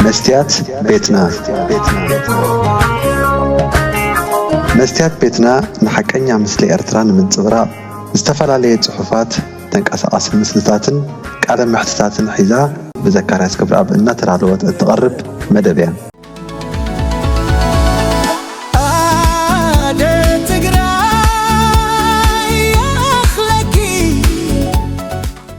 መስትያት ቤትና መስትያት ቤትና ንሓቀኛ ምስሊ ኤርትራ ንምንጽብራቕ ዝተፈላለየ ጽሑፋት፣ ተንቀሳቓሲ ምስልታትን ቃለ መሕትታትን ሒዛ ብዘካርያስ ገብረኣብ እናተዳለወት እትቐርብ መደብ እያ። ኣደ ትግራይ ይኣኽለኪ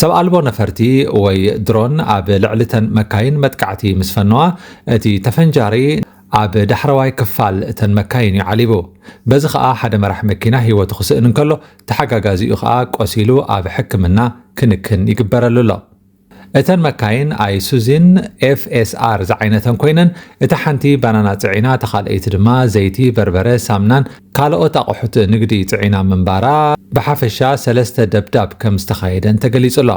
ሰብ ኣልቦ ነፈርቲ ወይ ድሮን ኣብ ልዕሊ'ተን መካይን መጥቃዕቲ ምስ ፈነዋ፣ እቲ ተፈንጃሪ ኣብ ዳሕረዋይ ክፋል እተን መካይን እዩ ዓሊቡ። በዚ ከኣ ሓደ መራሒ መኪና ህይወቱ ክስእን እንከሎ፣ ተሓጋጋዚኡ ከኣ ቆሲሉ ኣብ ሕክምና ክንክን ይግበረሉ ኣሎ። እተን መካይን ኣይሱዚን ኤፍኤስኣር ዝዓይነተን ኮይነን፣ እታ ሓንቲ ባናና ጽዒና እታ ካልኣይቲ ድማ ዘይቲ፣ በርበረ፣ ሳምናን፣ ካልኦት ኣቕሑት ንግዲ ፅዒና ምንባራ ብሓፈሻ ሰለስተ ደብዳብ ከም ዝተኻየደን ተገሊፁ'ሎ።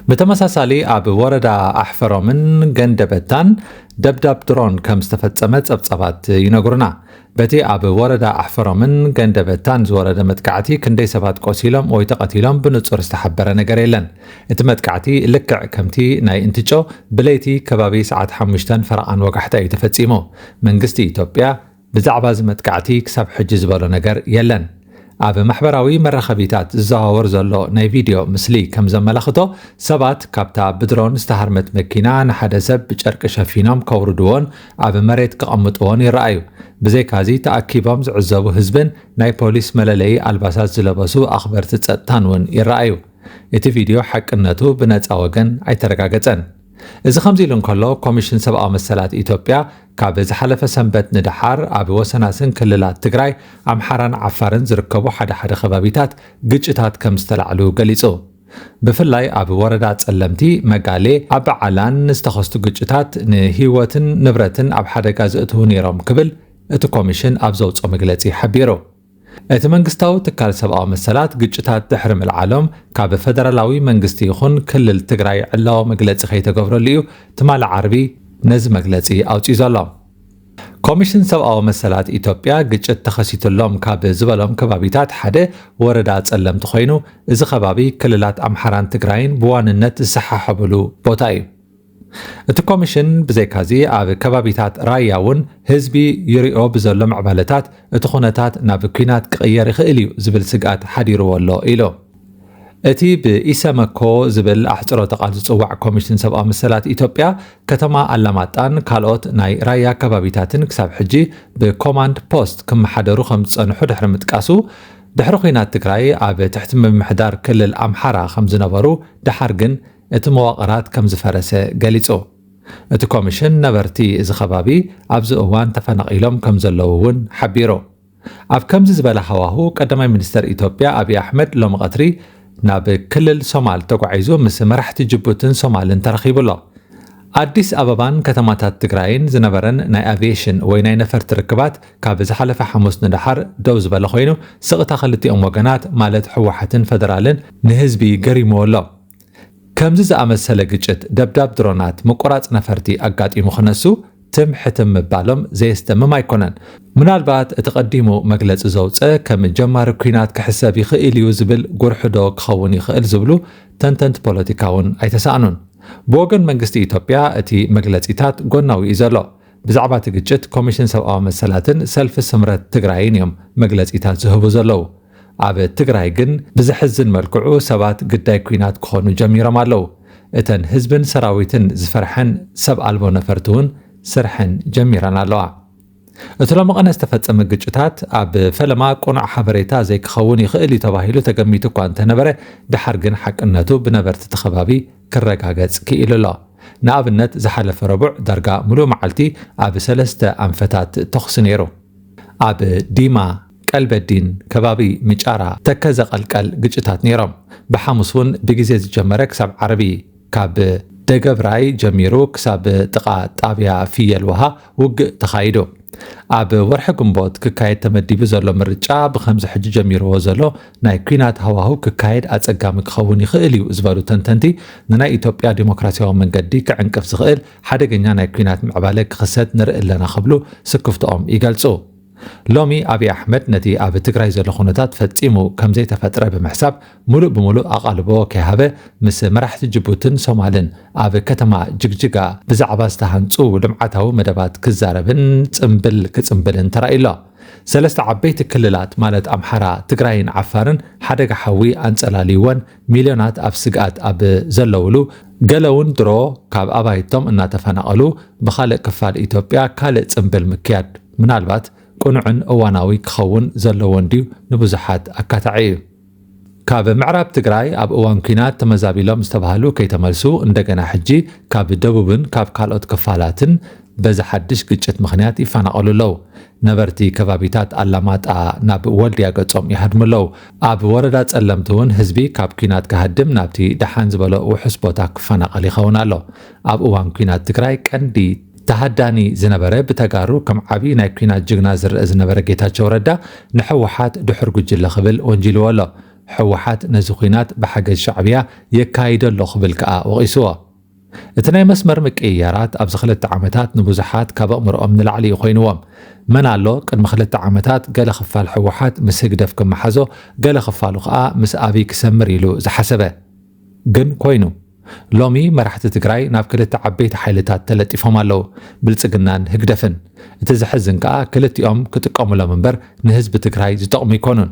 ብተመሳሳሊ ኣብ ወረዳ ኣሕፈሮምን ገንደበታን ደብዳብ ድሮን ከም ዝተፈፀመ ፀብፃባት ይነግሩና። በቲ ኣብ ወረዳ ኣሕፈሮምን ገንደበታን ዝወረደ መጥቃዕቲ ክንደይ ሰባት ቆሲሎም ወይ ተቐቲሎም ብንፁር ዝተሓበረ ነገር የለን። እቲ መጥቃዕቲ ልክዕ ከምቲ ናይ እንትጮ ብለይቲ ከባቢ ሰዓት ሓሙሽተን ፈረቓን ወጋሕታ እዩ ተፈፂሙ። መንግስቲ ኢትዮጵያ ብዛዕባ እዚ መጥቃዕቲ ክሳብ ሕጂ ዝበሎ ነገር የለን። ኣብ ማሕበራዊ መራኸቢታት ዝዘዋወር ዘሎ ናይ ቪድዮ ምስሊ ከም ዘመላኽቶ፣ ሰባት ካብታ ብድሮን ዝተሃርመት መኪና ንሓደ ሰብ ብጨርቂ ሸፊኖም ከውርድዎን ኣብ መሬት ከቐምጥዎን ይረኣዩ። ብዘይካዚ ተኣኪቦም ዝዕዘቡ ህዝብን ናይ ፖሊስ መለለዪ ኣልባሳት ዝለበሱ ኣኽበርቲ ጸጥታን እውን ይረኣዩ። እቲ ቪድዮ ሓቅነቱ ብነጻ ወገን ኣይተረጋገጸን። እዚ ከምዚ ኢሉ እንከሎ፣ ኮሚሽን ሰብኣዊ መሰላት ኢትዮጵያ፣ ካብ ዝሓለፈ ሰንበት ንደሓር ኣብ ወሰናስን ክልላት ትግራይ፣ ኣምሓራን ዓፋርን ዝርከቡ ሓደ ሓደ ከባቢታት ግጭታት ከም ዝተላዕሉ ገሊፁ። ብፍላይ ኣብ ወረዳ ፀለምቲ፣ መጋሌ፣ ኣባዓላን ዝተኸስቱ ግጭታት ንህይወትን ንብረትን ኣብ ሓደጋ ዘእትዉ ነይሮም ክብል እቲ ኮሚሽን ኣብ ዘውፅኦ መግለፂ ሓቢሩ። እቲ መንግስታዊ ትካል ሰብኣዊ መሰላት ግጭታት ድሕሪ ምልዓሎም ካብ ፈደራላዊ መንግስቲ ይኹን ክልል ትግራይ ዕላዊ መግለፂ ከይተገብረሉ እዩ ትማሊ ዓርቢ ነዚ መግለፂ ኣውፂኡ ዘሎ። ኮሚሽን ሰብኣዊ መሰላት ኢትዮጵያ ግጭት ተኸሲቱሎም ካብ ዝበሎም ከባቢታት ሓደ ወረዳ ፀለምቲ ኮይኑ እዚ ከባቢ ክልላት ኣምሓራን ትግራይን ብዋንነት ዝሰሓሓብሉ ቦታ እዩ። እቲ ኮሚሽን ብዘይካዚ ኣብ ከባቢታት ራያ እውን ህዝቢ ይሪኦ ብዘሎ ምዕባለታት እቲ ኩነታት ናብ ኲናት ክቕየር ይኽእል እዩ ዝብል ስግኣት ሓዲርዎ ኣሎ ኢሉ። እቲ ብኢሰመኮ ዝብል ኣሕፅሮተ ቃል ዝፅዋዕ ኮሚሽን ሰብኣዊ መሰላት ኢትዮጵያ ከተማ ኣላማጣን ካልኦት ናይ ራያ ከባቢታትን ክሳብ ሕጂ ብኮማንድ ፖስት ክመሓደሩ ከምዝፀንሑ ድሕሪ ምጥቃሱ ድሕሪ ኲናት ትግራይ ኣብ ትሕቲ ምምሕዳር ክልል ኣምሓራ ከምዝነበሩ ደሓር ግን እቲ መዋቕራት ከም ዝፈረሰ ገሊጹ። እቲ ኮሚሽን ነበርቲ እዚ ከባቢ ኣብዚ እዋን ተፈናቒሎም ከም ዘለዉ እውን ሓቢሩ። ኣብ ከምዚ ዝበለ ሃዋሁ ቀዳማይ ሚኒስተር ኢትዮጵያ ኣብዪ ኣሕመድ ሎሚ ቀትሪ ናብ ክልል ሶማል ተጓዒዙ ምስ መራሕቲ ጅቡትን ሶማልን ተራኺቡ ኣሎ። ኣዲስ ኣበባን ከተማታት ትግራይን ዝነበረን ናይ ኣቪዬሽን ወይ ናይ ነፈርቲ ርክባት ካብ ዝሓለፈ ሓሙስ ንደሓር ደው ዝበለ ኮይኑ ስቕታ ክልቲኦም ወገናት ማለት ህወሓትን ፈደራልን ንህዝቢ ገሪሙዎ ኣሎ። ከምዚ ዝኣመሰለ ግጭት፣ ደብዳብ ድሮናት፣ ምቁራጽ ነፈርቲ ኣጋጢሙ ክነሱ ትም ሕትም ምባሎም ዘየስደምም ኣይኮነን። ምናልባት እቲ ቀዲሙ መግለጺ ዘውጸ ከም ጀማሪ ኲናት ክሕሰብ ይኽእል እዩ ዝብል ጉርሕ'ዶ ክኸውን ይኽእል ዝብሉ ተንተንቲ ፖለቲካ'ውን ኣይተሳእኑን። ብወገን መንግስቲ ኢትዮጵያ እቲ መግለጺታት ጎናዊ'ዩ ዘሎ። ብዛዕባ'ቲ ግጭት ኮሚሽን ሰብኣዊ መሰላትን ሰልፊ ስምረት ትግራይን እዮም መግለጺታት ዝህቡ ዘለዉ። ኣብ ትግራይ ግን ብዘሕዝን መልክዑ ሰባት ግዳይ ኲናት ክኾኑ ጀሚሮም ኣለው። እተን ህዝብን ሰራዊትን ዝፈርሐን ሰብ ኣልቦ ነፈርቲ እውን ስርሐን ጀሚረን ኣለዋ። እቲ ሎሚ ቕነ ዝተፈፀመ ግጭታት ኣብ ፈለማ ቅኑዕ ሓበሬታ ዘይክኸውን ይኽእል እዩ ተባሂሉ ተገሚቱ እኳ እንተነበረ ደሓር ግን ሓቅነቱ ብነበርቲ እቲ ከባቢ ክረጋገፅ ክኢሉ ኣሎ። ንኣብነት ዝሓለፈ ረቡዕ ዳርጋ ሙሉእ መዓልቲ ኣብ ሰለስተ ኣንፈታት ተኹሲ ነይሩ። ኣብ ዲማ፣ ቀልበዲን ከባቢ ምጫራ ተከዘ ቀልቀል ግጭታት ነይሮም ብሓሙስ ውን ብግዜ ዝጀመረ ክሳብ ዓርቢ ካብ ደገብራይ ጀሚሩ ክሳብ ጥቃ ጣብያ ፍየል ውሃ ውግእ ተካይዱ ኣብ ወርሒ ግንቦት ክካየድ ተመዲቡ ዘሎ ምርጫ ብከምዚ ሕጂ ጀሚርዎ ዘሎ ናይ ኩናት ሃዋህው ክካየድ ኣጸጋሚ ክኸውን ይኽእል እዩ ዝበሉ ተንተንቲ ንናይ ኢትዮጵያ ዲሞክራሲያዊ መንገዲ ክዕንቅፍ ዝኽእል ሓደገኛ ናይ ኩናት ምዕባለ ክኽሰት ንርኢ ኣለና ክብሉ ስክፍትኦም ይገልጹ። ሎሚ ኣብይ ኣሕመድ ነቲ ኣብ ትግራይ ዘሎ ኩነታት ፈጺሙ ከምዘይተፈጥረ ብምሕሳብ ሙሉእ ብሙሉእ ኣቓልቦ ከይሃበ ምስ መራሕቲ ጅቡትን ሶማልን ኣብ ከተማ ጅግጅጋ ብዛዕባ ዝተሃንጹ ልምዓታዊ መደባት ክዛረብን ጽንብል ክጽንብልን ተራእዩ ኣሎ። ሰለስተ ዓበይቲ ክልላት ማለት ኣምሓራ፣ ትግራይን ዓፋርን ሓደጋ ሓዊ ኣንጸላልዩወን ሚልዮናት ኣብ ስግኣት ኣብ ዘለዉሉ፣ ገለ'ውን ድሮ ካብ ኣባይቶም እናተፈናቐሉ ብኻልእ ክፋል ኢትዮጵያ ካልእ ጽንብል ምክያድ፣ ምናልባት ቅኑዕን እዋናዊ ክኸውን ዘለዎ እንድዩ ንብዙሓት ኣካታዒ እዩ። ካብ ምዕራብ ትግራይ ኣብ እዋን ኲናት ተመዛቢሎም ዝተባህሉ ከይተመልሱ እንደገና ሕጂ ካብ ደቡብን ካብ ካልኦት ክፋላትን በዚ ሓድሽ ግጭት ምኽንያት ይፈናቐሉ ኣለው። ነበርቲ ከባቢታት ኣላማጣ ናብ ወልድያ ገፆም ይሃድሙ ኣለው። ኣብ ወረዳ ፀለምቲ እውን ህዝቢ ካብ ኲናት ክሃድም ናብቲ ደሓን ዝበሎ ውሑስ ቦታ ክፈናቐል ይኸውን ኣሎ። ኣብ እዋን ኲናት ትግራይ ቀንዲ ተሃዳኒ ዝነበረ ብተጋሩ ከም ዓብይ ናይ ኲናት ጅግና ዝረኣ ዝነበረ ጌታቸው ረዳ ንሕወሓት ድሑር ጉጅለ ክብል ወንጂልዎ ኣሎ። ሕወሓት ነዚ ኲናት ብሓገዝ ሻዕብያ የካይዶ ኣሎ ክብል ከኣ ወቒስዎ። እቲ ናይ መስመር ምቅይያራት ኣብዚ ክልተ ዓመታት ንብዙሓት ካብ ኣእምሮኦም ንላዕሊ እዩ ኮይንዎም። መን ኣሎ ቅድሚ ክልተ ዓመታት ገለ ክፋል ሕወሓት ምስ ህግደፍ ክመሓዞ ገለ ክፋሉ ከኣ ምስ ኣብይ ክሰምር ኢሉ ዝሓሰበ? ግን ኮይኑ ሎሚ መራሕቲ ትግራይ ናብ ክልተ ዓበይቲ ሓይልታት ተለጢፎም ኣለው ብልፅግናን ህግደፍን እቲ ዘሕዝን ከኣ ክልቲኦም ክጥቀሙሎም እምበር ንህዝቢ ትግራይ ዝጠቕሙ ይኮኑን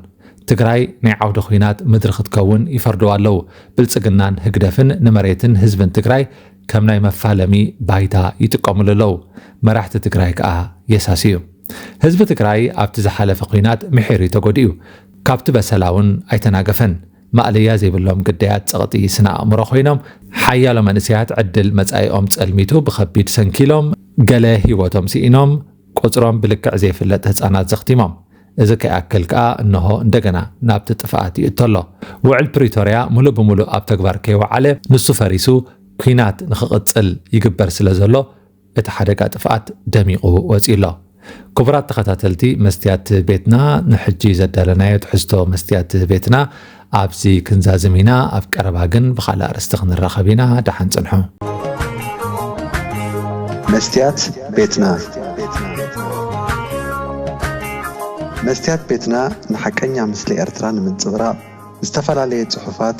ትግራይ ናይ ዓውደ ኹናት ምድሪ ክትከውን ይፈርድዋ ኣለው ብልፅግናን ህግደፍን ንመሬትን ህዝብን ትግራይ ከም ናይ መፋለሚ ባይታ ይጥቀሙሉ ኣለው መራሕቲ ትግራይ ከኣ የሳስዩ ህዝቢ ትግራይ ኣብቲ ዝሓለፈ ኹናት ምሒር እዩ ተጎዲኡ ካብቲ በሰላውን ኣይተናገፈን ማእለያ ዘይብሎም ግዳያት ጸቕጢ ስነ-ኣእምሮ ኮይኖም፣ ሓያሎ መንእሰያት ዕድል መጻኢኦም ጸልሚቱ ብኸቢድ ሰንኪሎም፣ ገለ ህይወቶም ስኢኖም፣ ቁጽሮም ብልክዕ ዘይፍለጥ ህጻናት ዘኽቲሞም። እዚ ከይኣክል ከኣ እነሆ እንደገና ናብቲ ጥፍኣት ይእቶ ኣሎ። ውዕል ፕሪቶርያ ምሉእ ብምሉእ ኣብ ተግባር ከይወዓለ ንሱ ፈሪሱ ኲናት ንኽቕጽል ይግበር ስለዘሎ እቲ ሓደጋ ጥፍኣት ደሚቑ ወጺኡ ኣሎ። ክቡራት ተኸታተልቲ መስትያት ቤትና ንሕጂ ዘዳለናዮ ትሕዝቶ መስትያት ቤትና ኣብዚ ክንዛዝም ኢና ኣብ ቀረባ ግን ብኻልእ ኣርእስቲ ክንራኸብ ኢና ደሓን ጽንሑ። መስትያት ቤትና መስትያት ቤትና ንሓቀኛ ምስሊ ኤርትራ ንምንጽብራቕ ዝተፈላለየ ጽሑፋት፣